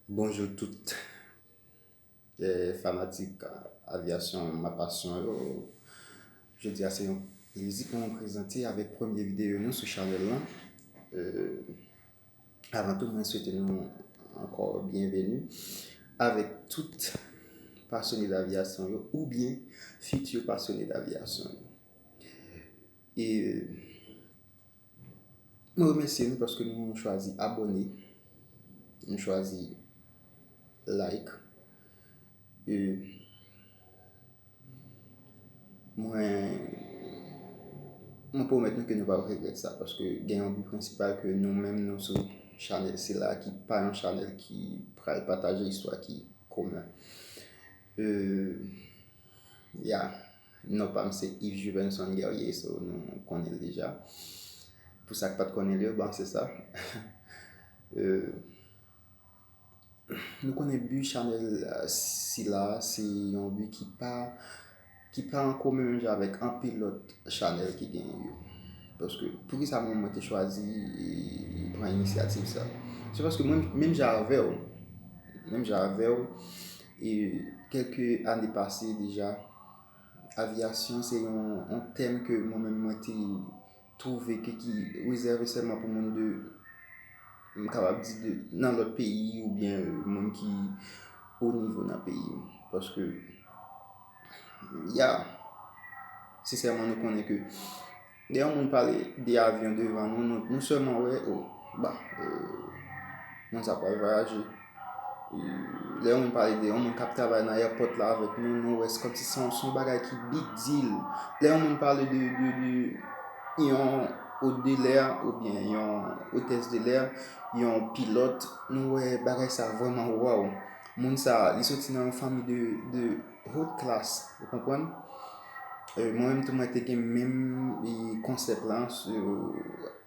Bonjou tout fanatik avyasyon ma pasyon yo Jodi a se yon plezi pou mwen prezante avèk premye videyo nou sou chanèl lan Avan tou mwen swete nou ankò byenveni avèk tout pasyone davyasyon yo oubyen fiti pasyone davyasyon E nou remèsye nou paske nou chwazi abòne, nou chwazi like. E mwen pwomèt nou ke nou pap regrèt sa paske gen yon bi prensipal ke nou menm nou sou chanèl sila ki pa yon chanèl ki pral pataje istwa ki komen. E ya. Non pam se Yves Juvenson Guerrier so nou konnen l deja. Pou sak pat konnen l yo bon se sa. Nou konnen bi chanèl sila se yon bi ki pa ki pa an komen menm jan avèk anpil lòt chanèl ki genyen yo. Paske poukisa menm mwen te chwazi pran inisyativ sa. Se paske mwen menm jan avèw menm jan avèw e kèlke ane pase deja Avyasyon se yon tèm ke mwen menm mwen te twouve ke ki rezève sèlman pou moun de, m kapab di de nan lòt peyi oubyen moun ki o nivo nan peyi. Paske, ya, sesèman nou konnen ke. Lè yon moun pale de avyon devan nou, nou sèlman wè, o, ba, o, moun sa pral vwayaje. Lè yon moun pale de yon moun k ap travay nan èpòt la avèk nou, nou wè se kòm si se yon bagay ki big deal. Lè yon moun pale de yon ot de lè oubyen yon otès de lè, yon pilòt, nou wè bagay sa vrèman wòw. Moun sa, li soti nan yon fanmi de. Haute classe, ou konprann? Mwen menm tou mwen te gen menm konsèp la.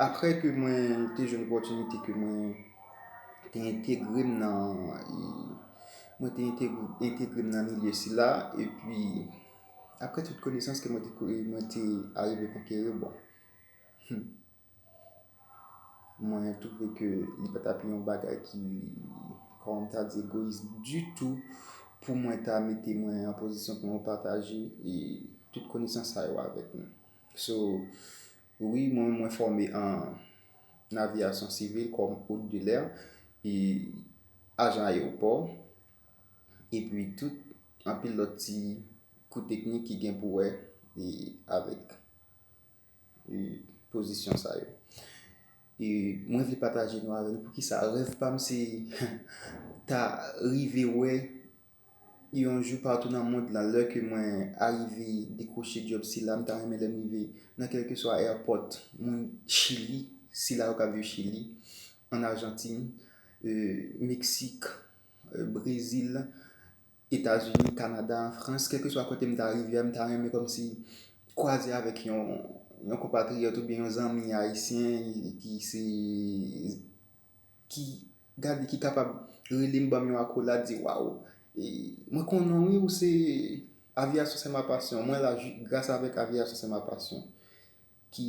Aprè ke mwen te jwenn opòtinite ke mwen te entegre m nan, mwen te entegre m nan milye sila, epi aprè tout konesans ke mwen te arive konkeri, bon, Mwen twouve ke li pa t ap yon bagay ki, kòman m ta di, egoyis ditou pou mwen ta mete mwen an pozisyon pou mwen pataje tout konesans sa yo avèk nou. So, wi mwen mwen fòme an aviyasyon sivil kòm ot de lè, e ajan ayewopò, epi tout anpil lòt ti kou teknik ki gen pou wè avèk. pozisyon sa yo. E mwen vle pataje nou avèk nou poukisa rèv pa m se ta rive wè yon jou patou nan mond lan lè ke mwen arive dekwoche djòb sila m ta renmen lè m rive nan kèlkeswa èpòt moun chili sila yo k ap viv chili an ajantin meksik brezil Etazini, Kanada, Frans, kèlkeswa kote m ta rive a, m ta renmen kòmsi kwaze avèk yon konpatriyòt oubyen yon zanmi ayisyen ki se, ki gade, ki kapab rele m ban m yon akolad di waw, mwen konnen w wi ou se, aviyasyon se ma pasyon, mwen la gras avèk aviyasyon se ma pasyon ki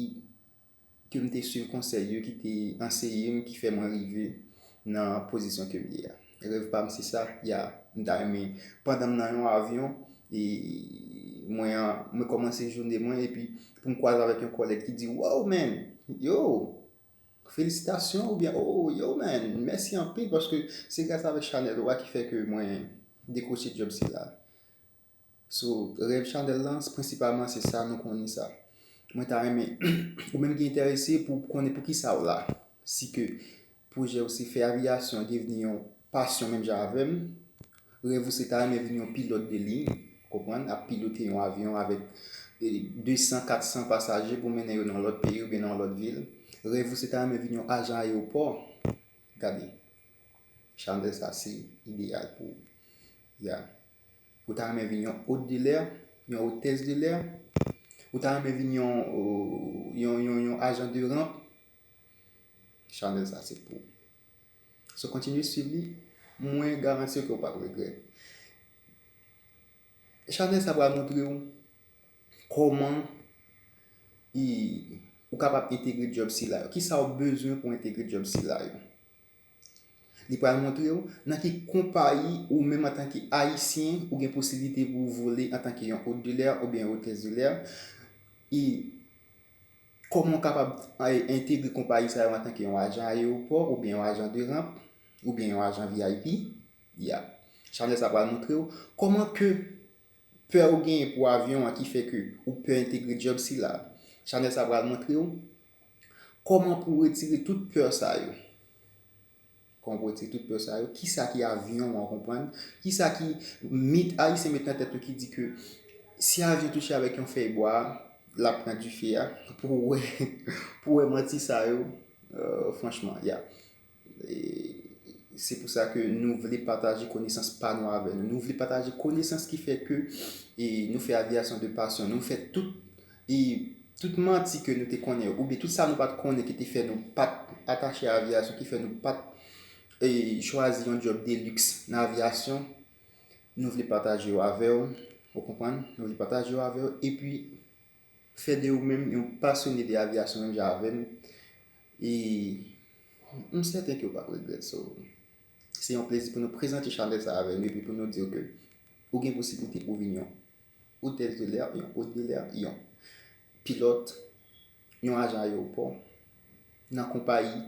ke m te swiv konsèy yo ki te anseye m ki fè mwen rive nan pozisyon ke m ye a. Rèv pa m se sa, ya, m ta renmen pandan m nan yon avyon e mwen mwen kòmanse jounen mwen epi pou m kwaze avèk yon kòlèg ki di wow man, yow, felisitasyon oubyen oo yow man, mèsi anpil paske se gras avèk chanèl ou a ki fè ke mwen dekwoche djòb sila. So rèv chanèl lan prensipalman se sa nou konnen sa. Mwen ta renmen ou menm ki enterese pou konnen poukisa ou la. Si ke pwojè ou se fè aviyasyon devni yon pasyon menm jan avèm, rèv ou se ta renmen vin yon pilòt de liy, konprann, ap pilote yon avyon avèk 200, 400 pasaje pou mennen yo nan yon lòt peyi oubyen nan yon lòt vil. Rèv ou se ta renmen vin yon ajan ayewopò, gade chanèl sa se ideyal pou ou. Yeah. Ou ta renmen vin yon hôte de l'air, yon hôtesse de l'air? Ou ta renmen vin yon, yon, yon, yon agent de ramp? Chanel sa se pou ou. So kontinye suiv li, mwen garanti ke ou pap regrèt. Chanel sa pral montre ou koman ou kapab entegre job sila yo. Kisa ou bezwen pou entegre job sila yo. Li pral montre ou nan ki konpayi ou menm antanke Ayisyen ou gen posiblite pou ou vole antanke yon hôte de l'air oubyen hôtesse de l'air e kòman ou kapab entegre konpayi sa yo antanke yon ajan ayewopò oubyen yon ajan de ramp oubyen yon ajan vip ya chanèl sa pral montre ou kòman ke pè ou genyen pou avyon an ki fè ke ou pè entegre djòb sila chanèl sa pral montre ou Koman pou retire tout peur sa yo. Koman pou retire tout peur sa yo. Kisa ki avyon an ou konprann. Kisa ki mit ayisyen met nan tèt yo ki di ke si avyon touche avèk yon fèy bwa lap pran dife a. Pou wè manti sa yo franchman ya. Se pou sa ke nou vle pataje konesans pa nou avè nou. Nou vle pataje konesans ki fè ke nou fè aviyasyon de pasyon. Nou fè tout e tout manti ke nou te konnen yo. Oube tout sa nou pat konnen ki te fè nou pat atache aviyasyon. Ki fè nou pat e chwazi yon job de lux nan aviyasyon. Nou vle pataje yo avè ou. Ou konprann? Nou vle pataje yo avè ou. E pi fè de ou menm yon pasyone de aviyasyon menm jan avè nou. E m sèten ke ou pap regrèt sa. Se yon plezi pou nou prezante chalè sa avè nou epi pou nou di ou ke ou gen posiblite pou vin yon otèz de lè, yon ot de lè, yon pilòt, yon ajan ayewopò nan konpayi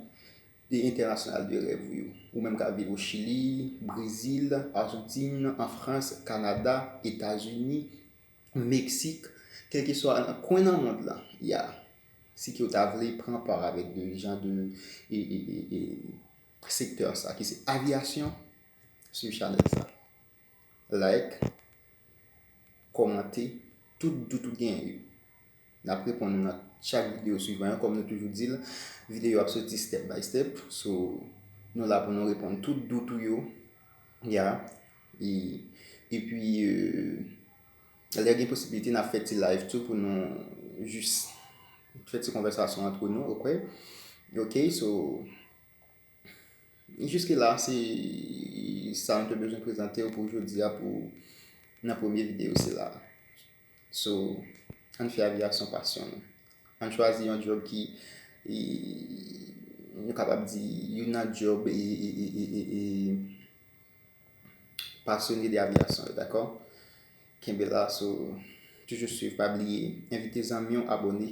entènasyonal de rèv ou yo. Ou menm kap viv o Chili, Brezil, Arjantin, an Frans, Kanada, Etazini, Meksik, kèlkeswa nan kwen nan mond lan, ya. Si ke ou ta vle pran part avèk de jan de secteur sa ki se aviation swiv chanèl sa like kòmante tout dout ou genyen yo nap reponn ou nan chak video swivan yo kòm nou toujou dil video ap soti step by step so nou la pou nou reponn tout dout ou yo ya epi Lè gen posibilite nap fè ti live tou pou nou jis fè ti konvèsasyon antre nou ok ok so jiske la se sa mwen te bezwen prezante pou jodi a pou nan premye videyo sila so an fè avyasyon pasyon nou an chwazi yon job ki nou kapab di yon nan job e e e e e Pasyone de aviyasyon yo dakò? Kenbe la sou toujou swiv pa bliye envite zanmi w abone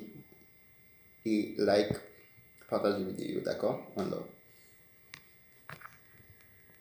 e like pataje videyo dakò one love.